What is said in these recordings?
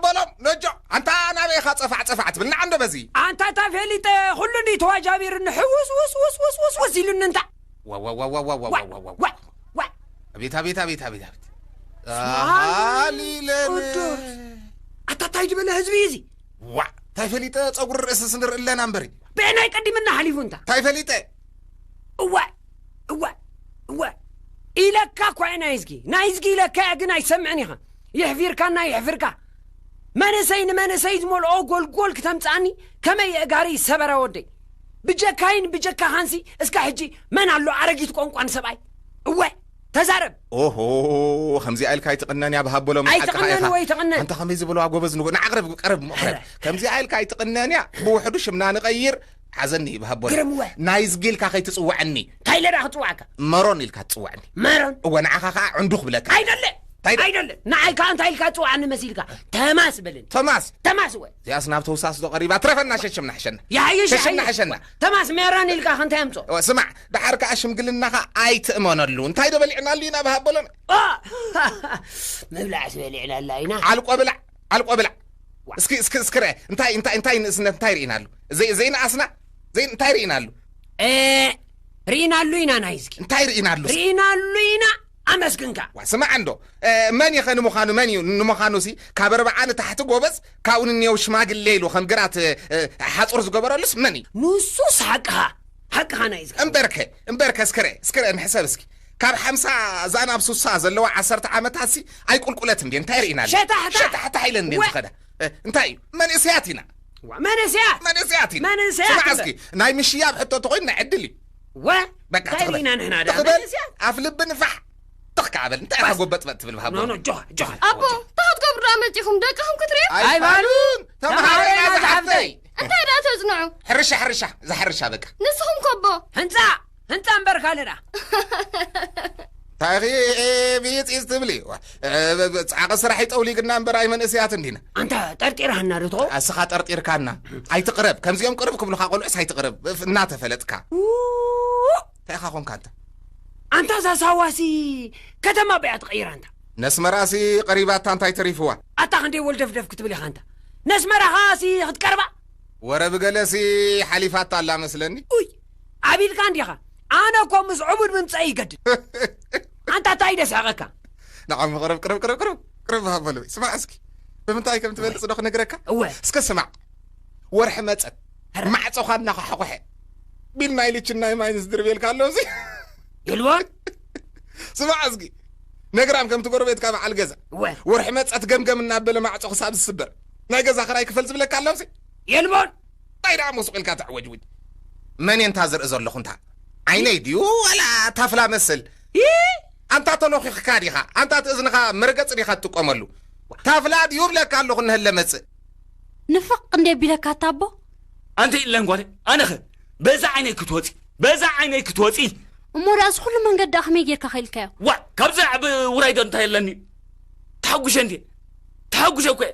በሎም ነጆ ኣንታ ናበይ ኢኻ ጸፋዕ ጸፋዕ ትብል ንዓ እንዶ በዚ። ኣንታ እታ ፌሊጠ ኹሉ እንድዩ ተዋጃቢሩኒ ሕውስውስውስውስውስ ኢሉኒ እንታ። ዋዋዋዋዋዋዋዋዋዋ ኣቤት ኣቤት ኣቤት ኣቤት ኣቤት ኣሃሊለን ቅዱስ ኣታ ታይ ዝበለ ህዝቢ እዩ እዚ ዋዕ ታይ ፈሊጠ ፀጉሪ ርእሲ ስንር እለና እምበሪ ብዕናይ ቀዲምና ሓሊፉ እንታ ታይ ፈሊጠ እዋይ እዋይ እዋይ ኢለካ እኳ እዩ ናይ ህዝጊ ናይ ህዝጊ ኢለካ እያ ግን ኣይሰምዕን ኢኻ የሕፊርካና የሕፍርካ መንእሰይ ንመንእሰይ ዝመልኦ ጎልጎል ክተምጽኣኒ ከመይ የእጋሪ ሰበረ ወደይ ብጀካይን ብጀካኻንሲ እስከ ሕጂ መን ኣሎ ኣረጊት ቋንቋን ሰብኣይ እወ ተዛረብ ኦሆ ከምዚኣ ኢልካ ኣይትቕነን እያ ብሃበሎ መሓቅኻ ኣይትቕነን ኢኻ ወይ ትቕነን? ኣንታ ከመይ ዝበለዋ ጎበዝ ንጉ ንዓቕርብ ቀርብ ምቕረብ ከምዚኣ ኢልካ ኣይትቕነን እያ ብውሕዱ ሽምና ንቐይር ሓዘኒ ኢብ ሃቦረ። ግርም እወ። ናይዝጊ ኢልካ ከይትጽውዐኒ። ታይ ኢለ ደኣ ክጽውዓካ? መሮን ኢልካ ትጽውዐኒ። መሮን? እወ ንዓኻ ከኣ ዕንዱ ክብለካ። ኣይደልን! ታይ ደ? ኣይደልን! ንዓይ ከኣ እንታይ ኢልካ ትጽውዓኒ መሲልካ? ተማስ በለኒ። ተማስ? ተማስ እወ። እዚኣስ ናብ ተውሳስ ዶ ቀሪባ? ትረፈና ሸሽም ናሕሸና። ይሓይሽ ሸሽም ይሓይሽ። ናሕሸና። ተማስ መሮን ኢልካ ከ እንታይ ኣምጾ? እወ ስማዕ፣ ደሓር ከኣ ሽምግልናኻ ኣይትእመነሉ። እንታይ ዶ በሊዕናሉ ኢና ኢብ ሃቦሎን? ኦ! ምብላዕስ በሊዕናላ ኢና። ዓልቆ ብላዕ። ኣልቆ ብላዕ እስኪ እስኪ እስኪ ርኣ እንታይ እንታይ እንታይ ንእስነት እንታይ ርኢናሉ ዘይ ዘይንኣስና ዘይ እንታይ ርኢናሉ ኤእ ርኢናሉ ኢና ናይዝጊ እንታይ ርኢናሉ ርኢናሉ ኢና ኣመስግንካ ዋ ስማዕ እንዶ መን ይኸ ንምዃኑ መን እዩ ንምዃኑ ሲ ካብ ኣርብዓ ንታሕቲ ጎበዝ ካብኡ ንንየው ሽማግሌ ኢሉ ከም ግራት ሓፁር ዝገበረሉስ መን እዩ ንሱስ ሓቅኻ ሓቅኻ ናይ እምበርከ እምበርከ እስክረ እስክረ ንሕሰብ እስኪ ካብ ሓምሳ እዛ ናብ ሱሳ ዘለዋ ዓሰርተ ዓመታትሲ ኣይቁልቁለትን ድየን እንታይ ርኢና ኣለና ሸታሕታሕ! ሸታሕታሕ ኢለን ድየን ወ- ዝኸዳ እ፣ እንታይ እዩ መንእሰያት ኢና ዋ፣ መንእሰያት መንእሰያት ኢና መንእሰያት ስማዕ እምበር። እስኪ ናይ ምሽያብ ሕቶ እንተኮይኑ ናይ ዕድል እዩ ወ በቃ እንታይ ትኽበል ርኢና ንሕና ድኣ ትኽበል መንእሰያት ኣፍ ልቢ ንፋሕ ትኽ ከዓ በል እንታይ ኢኻ ጎበጥበጥ ትብል ኖ ብሃቦ ኖ ጆሃ ጆሃ ኣቦ እንታይ ክትገብሩ ደኣ መጺኹም ደቅኹም ክትሪኡ ኣይባሉን ተምሃረና ዝሓፍተይ እንታይ ደኣ ተጽንዑ ሕርሻ ሕርሻ እዛ ሕርሻ በቃ ንስኹም ከቦ ህንፃ ህንፃ እምበር ካልእ ደኣ እንታይ ኢኺ ብይፅይፅ ትብሊ ፃዕቂ ስራሕ ይጠውሊግና እምበር ኣይ መንእሰያት እንዲና ኣንታ ጠርጢርሃና ዶ ትኾ እስኻ ጠርጢርካና ኣይትቕረብ ከምዚኦም ቅርብ ክብልኻ ቆልዑስ ኣይትቕረብ እናተፈለጥካ እንታይ ኢኻ ኮንካ እንተ ኣንታ እዛ ሳዋሲ ከተማ በያ ትቐይራ እንታ ነስመራሲ ቀሪባታ እንታይ ተሪፍዋ ኣታ ክንደይ ወልደፍደፍ ክትብል ኢኻ እንታ ነስመራኻሲ ክትቀርባ ወረ ብገለሲ ሓሊፋታ ኣላ መስለኒ ኡይ ኣቢልካ እንዲኻ ኣነ እኮ ምስ ዑቡድ ምምጸኢ ይገድድ ኣንታ ታይ ደስሕቀካ ንዓሚ ቅርብ ቅርብ ቅርብ ቅርብ ቅርብ ሃበሉ ስማዕ እስኪ ብምንታይ ከም ትበልጽ ዶ ክነግረካ እወ እስከ ስማዕ ወርሒ መጸት ማዕጾኻ እናኸሓቑሐ ቢል ናይ ልችን ናይ ማይን ዝድርቤልካ ኣሎ እዚ ኢልዎ ስማዕ እስኪ ነግራም ከምቲ ጎረቤትካ በዓል ገዛ ወርሒ መጸት ገምገም እናበለ ማዕጾ ክሳብ ዝስበር ናይ ገዛ ክራይ ክፈል ዝብለካ ኣሎ እዚ የልቦን እንታይ ደኣ ሞሱቕ ኢልካ ተዕወጅውጅ መን እየ እንታ ዝርኢ ዘለኹ እንታ ዓይነይ ድዩ ዋላ ታፍላ መስል ኣንታ ተሎኺኽካ ዲኻ ኣንታ እቲ እዝንኻ መርገጺ ዲኻ ትጥቀመሉ ታፍላ ድዩ እብለካ ኣለኹ እነሀለ መጽእ ንፍቕ እንድየ ቢለካ ኣታ ኣቦ። ኣንተይ እለን ጓለይ ኣነኸ በዛ ዓይነይ ክትወጺ በዛ ዓይነይ ክትወጺ። እሞ ደኣ እዚ ኩሉ መንገድ ደኣ ከመይ ጌርካ ከኢልካዮ። ዋእ ካብዚ ዝዓቢ ውራይ ዶ እንታይ ኣለኒ ተሓጉሸ እንድየ ተሓጉሸ እኮ እየ።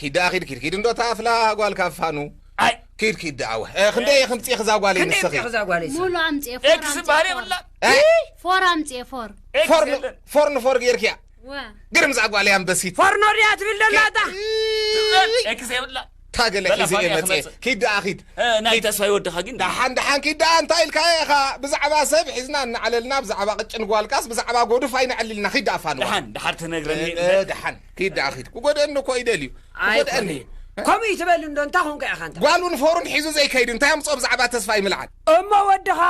ኪድ ደኣ ኪድ ኪድ ኪድ እንዶ እታ ኣፍላ ጓል ካብ ፋኑ ኣይ ኪድ ኪድ ደኣ ወ እ፣ ክንደይ እየ ክምፅእ ክዛ ጓለይ ክንደይ ንስኺ ምፅእ ክዛ ጓለይ ሙሉ ስኺ ኣምፅኤ ፎር ኤክስ ኣምፅኤ ዝበሃል ፎር የብላ እ፣ ፎር ኣምፅኤ ፎር ኤክስ ፎር ን- የለን ፎር ንፎር ጌርክያ ወ ግርም እዛ ጓለይ ኣንበሲት ፎርኖ ድያ ትብል ደላ እታ ዝበል ኤክስ የብላ ታገለ በላ ሒዘ ፋኑ እየ እየ መፅኤ ክመፅእ። ኪድ ደኣ ኪድ እ፣ ናይ ተስፋ ይወድኻ ግን ደሓን ደሓን ኪድ ደኣ እንታይ ኢልካ ኢኻ ብዛዕባ ሰብ ሒዝና እናዕለልና ብዛዕባ ቅጭን ጓልካስ ብዛዕባ ጎዱፍ ኣይነዕልልና ኪድ ደኣ ፋንዋ ደሓን ደሓር ትነግረኒ እ፣ ደሓን ኪድ ደኣ ኪድ ክጎድኣኒ እኮ ይደልዩ ክጎድኣኒ ኣይኮነይ ከምኡ ይትበል እንዶ እንታይ ኮንካ ኢኻ እንተ ጓሉን ፎሩን ሒዙ ዘይከይድ እንታይ ኣምጽኦ ብዛዕባ ተስፋይ ምልዓል። እሞ ወድኻ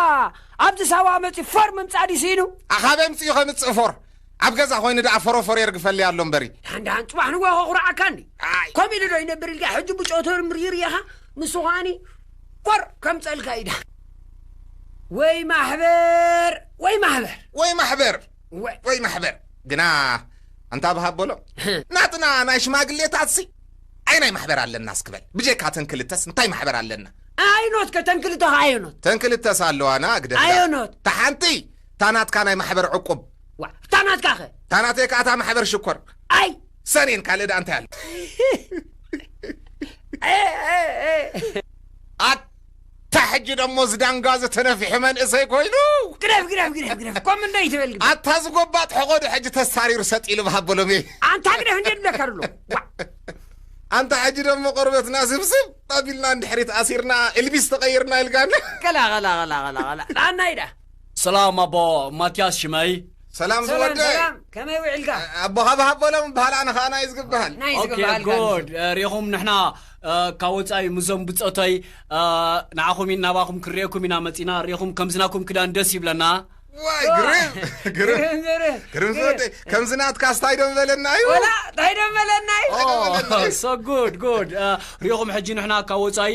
ኣብዚ ሳዋ መጺኡ ፎር ምምጻእ ድዩ ስኢኑ። ኣኻበይ ኣምጺኡ ከምጽእ ፎር ኣብ ገዛ ኮይኑ ደኣ ፎሮፎር የርግፈለይ ኣሎ እምበሪ። ድሓን ድሓን ጽባሕ ንግሆ ከኹርዓካ እንዲ ኣይ ከምኡ ኢሉ ዶ ይነብር ኢልካ ሕጂ ብጮ ተርምሪር ኢኻ ንሱ ከኣኒ ፎር ከምጸልካ እዩ ድሓን ወይ ማሕበር ወይ ማሕበር። ወይ ማሕበር። ወይ ማሕበር ግና ኣንታ ብሃብ በሎ ናትና ናይ ሽማግሌታትሲ ኣይ ናይ ማሕበር ኣለና እስክበል ብጀካ ተን ክልተስ እንታይ ማሕበር ኣለና ኣየኖት ከ ተን ክልተ ከ ኣየኖት ተን ክልተስ ኣለዋና ግደ ኣየኖት ታሓንቲ ታናትካ ናይ ማሕበር ዕቁብ ታናትካ ከ ታናተይ ከኣ እታ ማሕበር ሽኮር ኣይ ሰኔን ካልእ ደኣ እንታይ ኣሎ እታ ሕጂ ደሞ ዝዳንጋ ዝተነፍሐ መንእሰይ ኮይኑ ግደፍ ግደፍ ግደፍ ግደፍ ኮም እንዶ ይትበል ግደፍ ኣታ ዝጎባጥ ሕቆዶ ሕጂ ተሳሪሩ ሰጥ ኢሉ ብሃበሎም እየ ኣንታ ግደፍ እንደ ድለካ ድሎ ኣንታ ሕጂ ደሞ ቆርበትና ስብስብ ኣቢልና ንድሕሪት ኣሲርና ኤልቢስ ተቐይርና ኢልካና ቀላ ቀላ ቀላ ቀላ ቀላ ናናይ ዳ ሰላም ኣቦ ማትያስ ሽመይ። ሰላም ዝወደይ ሰላም ከመይ ውዒልካ ኣቦ ሃብሃብ በሎም ይበሃል ኣነ ከዓ ናይዝ ግበሃል ናይ ዝግበሃል ጉድ ሪኹም ንሕና ካብ ወፃኢ ምዞም ብፆተይ ንዓኹም ኢና ናባኹም ክንሪኤኩም ኢና መፂና ሪኹም ከምዝናኩም ክዳን ደስ ይብለና ዋይ ግርም ግርም ግርም ዝወደይ ከምዚ ናትካ ስታይ ዶ በለና እዩ ወላ እንታይ ዶ በለና እዩ ሶ ጉድ ጉድ ሪኹም ሕጂ ንሕና ካብ ወፃኢ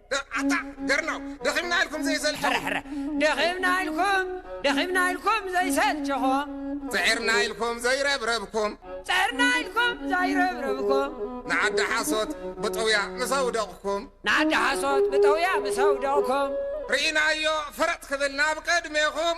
ኣታ ገርናው ደኺምና ኢልኩም ዘይሰልቸኹም ሕረ ሕረ ደኺምና ኢልኩም ደኺምና ኢልኩም ዘይሰልቸኹም ፅዒርና ኢልኩም ዘይረብረብኩም ፅዕርና ኢልኩም ዘይረብረብኩም ንዓዲ ሓሶት ብጥውያ ምስ ኣውደቕኩም ንዓዲ ሓሶት ብጠውያ ምስ ኣውደቕኩም ርኢናዮ ፈረጥ ክብል ናብ ቅድሜኹም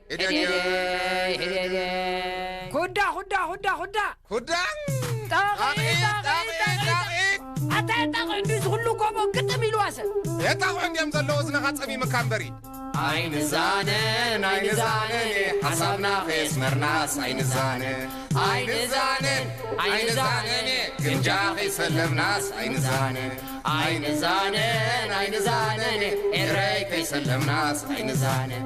ኩዳ ኩዳ ኩዳ ኩዳ ኩዳ ኣታ የጣቕዑ እንዲ ዝኽሉ ጎቦ ግጥም ኢልዋ ሰብ የጣቕዑ እንዲዮም ዘለዎ እዝንኻ ጸሚምካ እምበሪ ኣይንዛነን ኣይንዛነን ሓሳብና ከየስመርናስ ኣይንዛነን ኣይንዛነን ኣይንዛነን ግምጃ ከይሰለምናስ ኣይንዛነን ኣይንዛነን ኣይንዛነን ኤረይ ከይሰለምናስ ኣይንዛነን